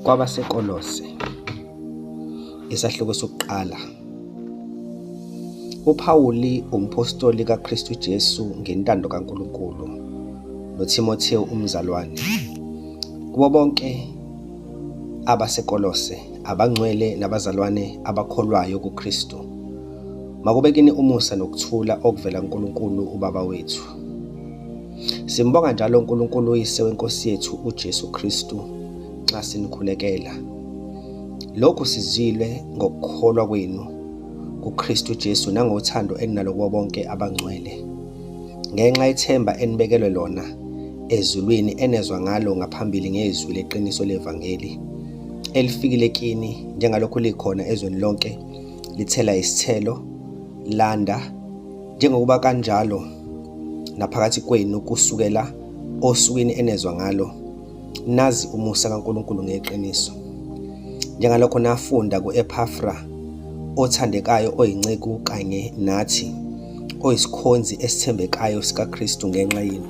kwabasekolose isahluko sokuqala uPawuli umphostoli kaKristu Jesu ngentando kaNkulunkulu noThimothewu umzalwane kubo bonke abasekolose abangcwele nabazalwane abakholwayo kuKristu makube kini umusa nokuthula okuvela kuNkulunkulu uBaba wethu Simbonga njalo uNkulunkulu uyise wenkosi yethu uJesu Kristu nxa sinikhulekela. Lokhu sizilwe ngokukholwa kwenu kuKristu Jesu nangothando eninalo kubo bonke abangcwele. Ngenxa yethemba enibekelwe lona ezulwini enezwa ngalo ngaphambili ngezwi leqiniso levangeli elifikile kini njengalokhu likhona ezweni lonke lithela isithelo landa njengokuba kanjalo naphakathi kwenu kusukela osukwini enezwa ngalo nazi umusa kaNkulunkulu ngeqiniso njengalokho nafunda kuEphafra othandekayo oyinceku kanye nathi oyisikhonzi esithembekayo sikaKristu ngenxa yenu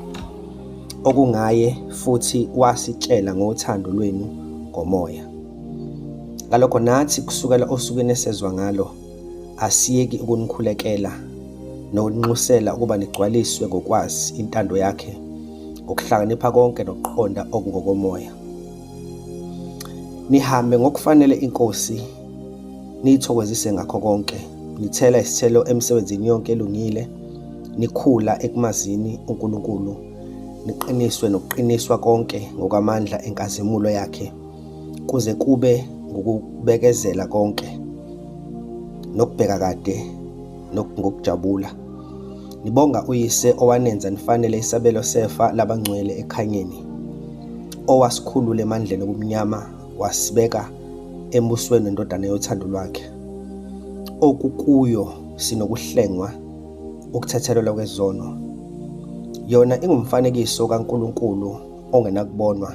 okungaye futhi wasitshela ngothando lwenu ngomoya ngalokho nathi kusukela osukwini esezwa ngalo asiyeki ukunikhulekela nokunxusela ukuba nigcwaliswe ngokwazi intando yakhe ngokuhlakanipha konke nokuqonda okungokomoya nihambe ngokufanele inkosi niyithokozise ngakho konke nithela isithelo emsebenzini yonke elungile nikhula ekumazini uNkulunkulu niqiniswe nokuqiniswa konke ngokwamandla enkazimulo yakhe kuze kube ngukubekezela konke nokubheka kade ngokujabula nibonga uyise owanenza nifanele isabelo sefa labangcwele ekhanyeni owasikhulula emandleni obumnyama wasibeka embusweni wendodana yothando lwakhe okukuyo sinokuhlengwa ukuthethelelwa kwezono yona ingumfanekiso kaNkulunkulu ongenakubonwa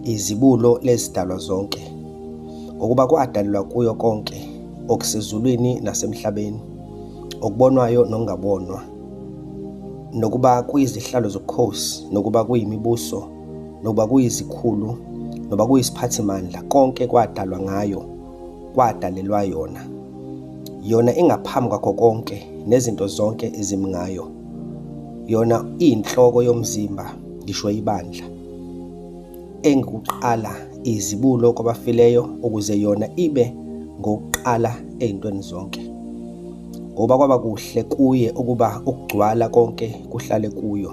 izibulo lezidalwa zonke ngokuba kwadalelwa kuyo konke okusezulwini nasemhlabeni okubonwayo nokungabonwa nokuba kuyizihlalo zobukhosi nokuba kuyimibuso nokuba kuyizikhulu noba kuyisiphathimandla konke kwadalwa ngayo kwadalelwa yona. Yona ingaphambi kwakho konke nezinto zonke ezimi ngayo. Yona iyinhloko yomzimba, ngisho ibandla. Engikuqala izibulo kwabafileyo ukuze yona ibe ngokuqala ezintweni zonke. Ngoba kwaba kuhle kuye ukuba ukugcwala konke kuhlale kuyo.